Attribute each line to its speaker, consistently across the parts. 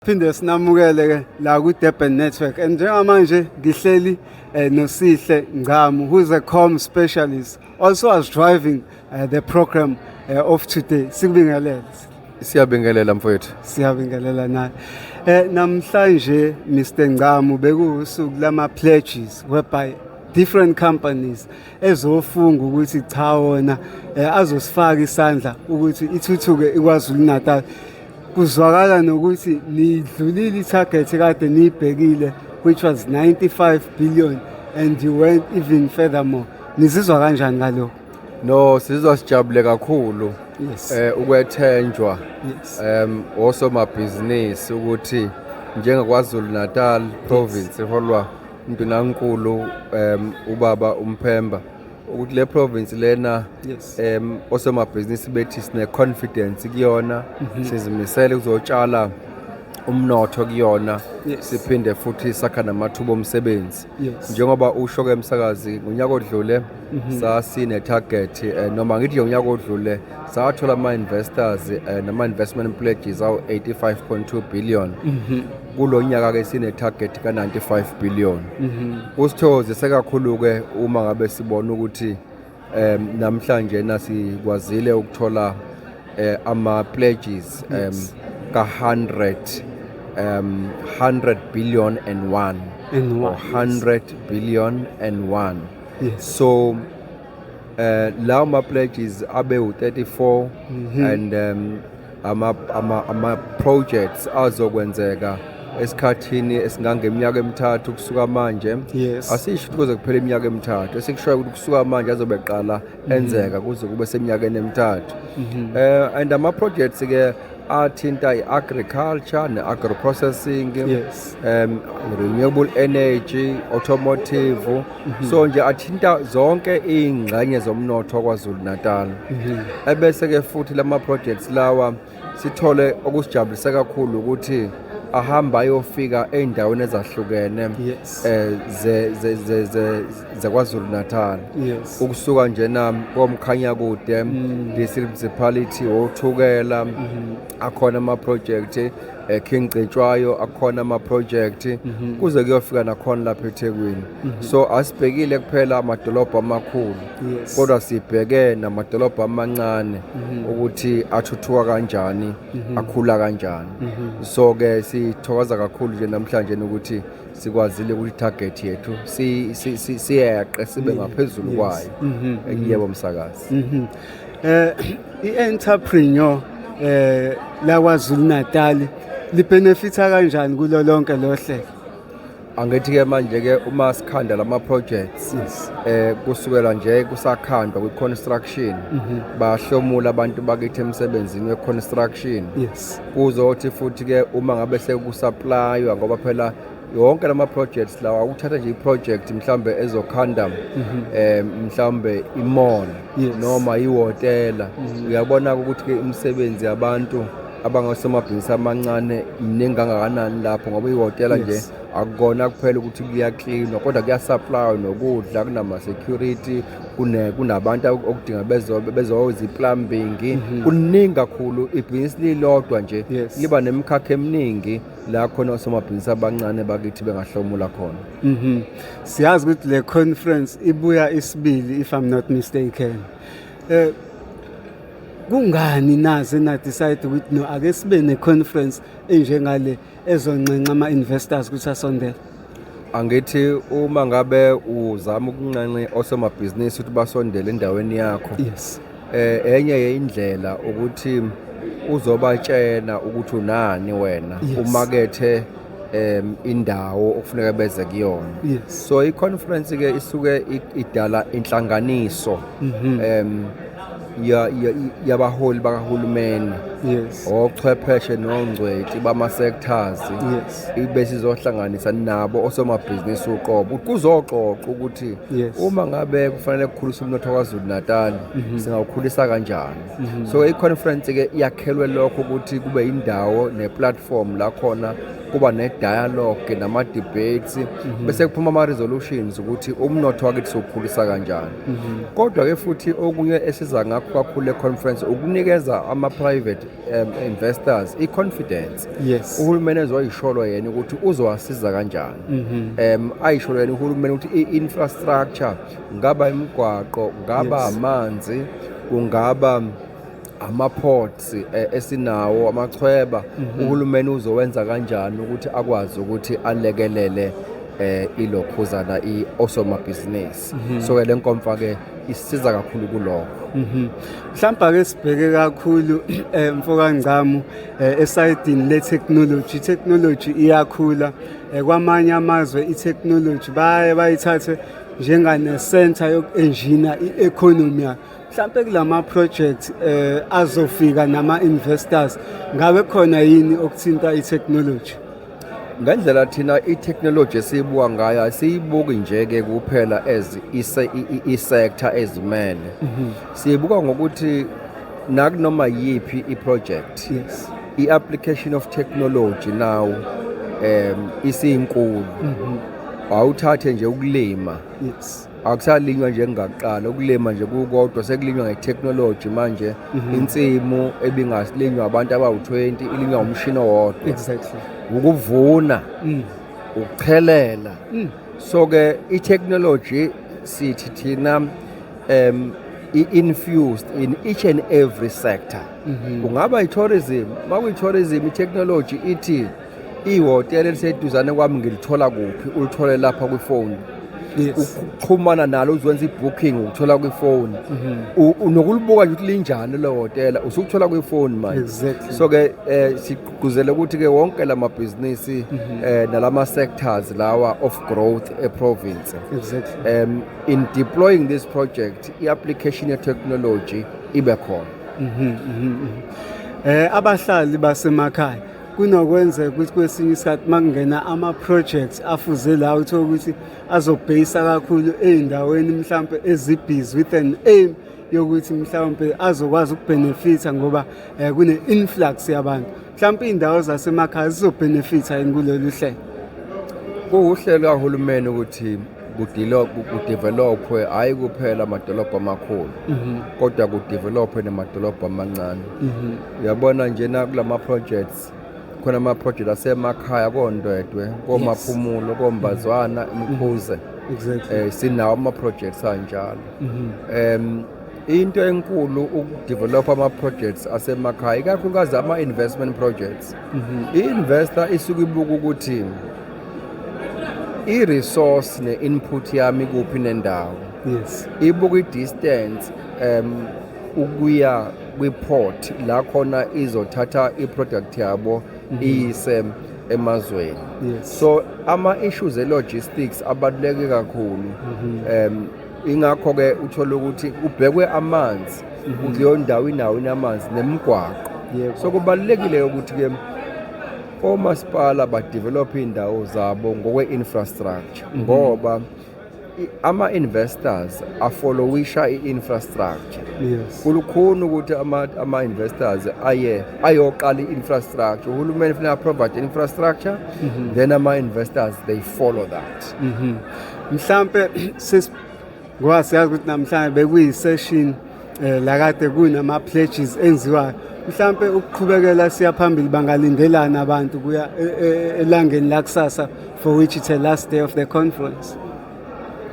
Speaker 1: Phinde sinamukele ke la ku Durban Network and njengamanje ngihleli eh, noSihle Ngcamu who is a com specialist also as driving uh, the program uh, of today sikubingelele siyabingelela
Speaker 2: mfowethu siyabingelela naye
Speaker 1: eh namhlanje Mr Ngcamu bekuwusuku lama pledges whereby different companies ezofunga ukuthi cha wona eh, azosifaka isandla ukuthi ithuthuke iKwaZulu Natal Kuzwakala nokuthi nidlulile i-target kade niyibhekile which was 95 billion and you went even furthermore. Nizizwa kanjani ngalokho? No, sizizwa
Speaker 2: sijabule kakhulu. Yes. Eh
Speaker 1: ukwethenjwa.
Speaker 2: Yes. Em
Speaker 1: osomabhizinisi
Speaker 2: ukuthi njengaKwaZulu Natal province iholwa uNdunankulu em ubaba uMphemba ukuthi le province lena yes. um osomabhizinisi bethi sine-confidence kuyona mm -hmm. sizimisele kuzotshala umnotho kuyona yes. siphinde futhi sakha namathuba omsebenzi yes. njengoba usho ke msakazi ngonyaka odlule mm -hmm. sasine-target um eh, noma ngithi ngonyaka odlule sathola ama-investors eh, nama-investment pledges awu-85.2 billion mhm. kulo nyaka-ke sine-target ka-95 billion mhm. kusithokozise kakhulu-ke uma ngabe sibona ukuthi um namhlanje nasikwazile ukuthola eh, ama-pledges um ka-100 um 100 billion and one and one. 100 billion and one yes. so eh lawo ma pledges abe u34 mhm. and um ama ama, ama projects azokwenzeka esikhathini esingangeminyaka emithathu kusuka manje yes. asisho ukuthi
Speaker 1: kuze kuphela
Speaker 2: iminyaka emithathu esikushoyo ukuthi kusuka manje azobe qala mhm. enzeka kuze kube seminyakeni emithathu mm -hmm. uh, eh, and ama-projects ke athinta i-agriculture ne-agroprocessing yes. um renewable energy automotive mhm. so nje athinta zonke iy'ngxenye zomnotho kwazulu natal mhm. ebese-ke futhi lama projects lawa sithole okusijabulise kakhulu ukuthi ahamba ayofika ey'ndaweni ezahlukene um zekwazulu natal ukusuka njena komkhanyakude mm. district municipality wothukela mm-hmm. akhona ama-project eh, King Cetshwayo akhona ama-project mhm. kuze kuyofika nakhona lapha eThekwini mhm. so asibhekile kuphela amadolobha amakhulu kodwa sibheke namadolobha amancane mhm. ukuthi athuthuka kanjani akhula kanjani so ke sithokoza kakhulu nje namhlanje ukuthi sikwazile ukuthi target yethu siyeqe sibe ngaphezulu kwayo yebo msakazi eh
Speaker 1: i-entrepreneur eh laKwaZulu Natal libenefitha kanjani kulo lonke lo hlelo angithi
Speaker 2: ke manje ke uma sikhanda lama projects eh kusukela nje kusakhandwa kwi construction mhm. bahlomula abantu bakithi emsebenzini we construction kuzothi futhi ke uma ngabe sekusupplyiwa ngoba phela yonke lama projects lawa ukuthatha nje iproject mhlambe ezokhanda mhm. eh mhlambe imall noma ihotela mhm. uyabona ukuthi ke umsebenzi yabantu abangasemabhizinisi amancane mningi kangakanani lapho ngoba ihotela nje akukona kuphela ukuthi kuyaklinwa kodwa kuyasupplya nokudla kunama-security kunabantu okudinga bezoza i-plumbing mhm. kuningi kakhulu ibhizinisi lilodwa nje liba nemikhakha eminingi la khona osomabhizinisi abancane bakithi bengahlomula khona mhm siyazi ukuthi
Speaker 1: le conference ibuya isibili if i'm not mistaken eh kungani naze na decide ukuthi no ake sibe ne conference enjengale ezonxenxa ama investors kusasondela angithi
Speaker 2: uma ngabe uzama ukunxenxe osomabhizinisi ukuthi basondele endaweni yakho yes eh enye yeindlela ukuthi uzobatshena ukuthi unani wena Yes. umakethe em indawo okufuneka beze kuyona Yes. so i-conference ke isuke i- idala inhlanganiso em ya- ya- yabaholi bakahulumeni yes ochwepheshe nongcweti bama-sectors yes ibe sizohlanganisa nabo osomabhizinisi uqobo kuzoxoxa ukuthi Yes. uma ngabe kufanele kukhulisa umnotho kwazulu natal singawukhulisa kanjani so i-conference-ke yakhelwe lokho ukuthi kube yindawo ne-platform la khona kuba ne-dialogue nama-debates mhm. bese kuphuma ama-resolutions ukuthi umnotho wakithi siwukhulisa kanjani mhm. kodwa-ke futhi okunye esiza ngakho kakhulu le-conference ukunikeza ama-private um, investors i-confidence yes uhulumeni
Speaker 1: ezoyisholo
Speaker 2: yena ukuthi uzowasiza kanjani mhm. um ayisholo yena uhulumeni ukuthi i-infrastructure ngaba imigwaqo ngaba amanzi kungaba ama-ports eh, esinawo amachweba mhm. uhulumeni uzowenza kanjani ukuthi akwazi ukuthi alekelele eh ilokhuzana iosomabhizinisi mhm. so ke lenkomfa ke isiza kakhulu kuloko mhm. mhlawumbe
Speaker 1: ke sibheke kakhulu eh, mfoka Ngcamu eh, esayidini le technology technology iyakhula eh, kwamanye amazwe i technology baye bayithathe njengane center yokuengineer i economy Mhlampe kulama project eh azofika nama investors ngabe khona yini okuthinta i technology? Ngendlela
Speaker 2: thina i technology esiyibuka ngayo asiyibuki nje ke kuphela as i sector ezimele. Mhm. Siyibuka ngokuthi nakunoma yiphi i project. Yes. I
Speaker 1: application of
Speaker 2: technology now um isinkulu. Mhm. Awuthathe nje ukulima. Yes.
Speaker 1: akusalinywa
Speaker 2: njengakuqala ukulima nje kukodwa sekulinywa ngetechnology manje mhm. insimu ebingasilinywa abantu abawu-20 ilinywa umshini owodwa exactly
Speaker 1: ukuvuna
Speaker 2: mm. ukuchelela mm. so ke itechnology sithi thina um i-infused in each and every sector mhm. kungaba i-tourism makuyi-tourism i-technology ithi mm -hmm. ihhotela eliseduzane kwami ngilithola kuphi ulithole lapha kwifoni
Speaker 1: ukuxhumana nalo
Speaker 2: uzwenza i-booking ukuthola kwifoni mhm. nokulibuka nje ukuthi linjani le hotela usukuthola kwifoni manje so-ke
Speaker 1: um
Speaker 2: sigqugquzele ukuthi-ke wonke la mabhizinisi um mhm. eh, nala ma-sectors lawa of growth eprovince um
Speaker 1: in deploying
Speaker 2: this project i-application ye-technology ibe khona mhm, um
Speaker 1: eh, abahlali basemakhaya kunokwenzeka ukuthi kwesinye isikhathi uma kungena ama-projects afuze la uthola ukuthi azobheyisa kakhulu ey'ndaweni mhlawumpe ezibhizi with an aim yokuthi mhlawumpe azokwazi ukubhenefitha ngoba um kune-influx yabantu mhlawumpe iy'ndawo zasemakhaya zizobhenefitha yini kulolu hlelo
Speaker 2: kuwuhlelo kahulumeni ukuthi kudevelophwe hhayi kuphela amadolobha amakhulu mhm. kodwa kudevelophwe namadolobha amancane mhm. uyabona njena kula ma-projects khona ama-project asemakhaya kondwedwe komaphumulo kombazwana mhm. mkhuze exactly. um
Speaker 1: sinawo ama-projects
Speaker 2: anjalo um into enkulu ukudevelopha ama-projects asemakhaya ikakhulukazi ama-investment projects i-investor isuke ibuka ukuthi i-resource ne-input yami kuphi nendawo yes ibuka
Speaker 1: i-distance
Speaker 2: um ukuya kwi-port la khona izothatha i-product yabo mhm. iyise emazweni yes. so
Speaker 1: ama-issues
Speaker 2: e-logistics abaluleke kakhulu mm -hmm. um ingakho-ke uthole ukuthi kubhekwe amanzi mm -hmm. kuleyo ndawo inawo inamanzi nemigwaqo yep. so kubalulekile ukuthi-ke Omasipala badevelophe iy'ndawo zabo ngokwe-infrastructure mhm. ngoba ama-investors afolowisha i-infrastructure yes. kulukhuni
Speaker 1: ukuthi
Speaker 2: ama-investors ama aye ayoqala i-infrastructure uhulumeni funeka aprovide infrastructure mm -hmm. then ama-investors they follow that mm -hmm.
Speaker 1: mhlampe ngoba siyazi ukuthi namhlanje bekuyi-session um eh, lakade kunama-pledges enziwayo mhlampe ukuqhubekela siya phambili bangalindelani abantu kuya e, e, e, elangeni lakusasa for which it's a last day of the conference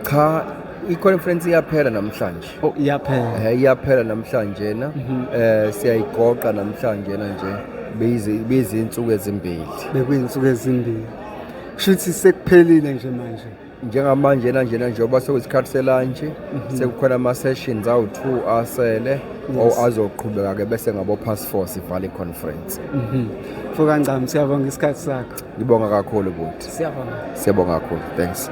Speaker 1: cha
Speaker 2: i-conference iyaphela namhlanje oh, iyaphela eh,
Speaker 1: iyaphela namhlanje
Speaker 2: na mhm. eh siyayigoqa namhlanje na nje beyizinsuku ezimbili bekuyizinsuku
Speaker 1: ezimbili kushuthi sekuphelile nje manje njengamanje
Speaker 2: nanjena njengoba sekuyisikhathi selantshi mhm. sekukhona ama-sessions awu-two asele azoqhubeka ke bese ngabo-pass four sivale i-conference mhm. fuka
Speaker 1: ncam siyabonga
Speaker 2: isikhathi sakho
Speaker 1: ngibonga kakhulu
Speaker 2: buti
Speaker 1: siyabonga
Speaker 2: siyabonga kakhulu
Speaker 1: thanks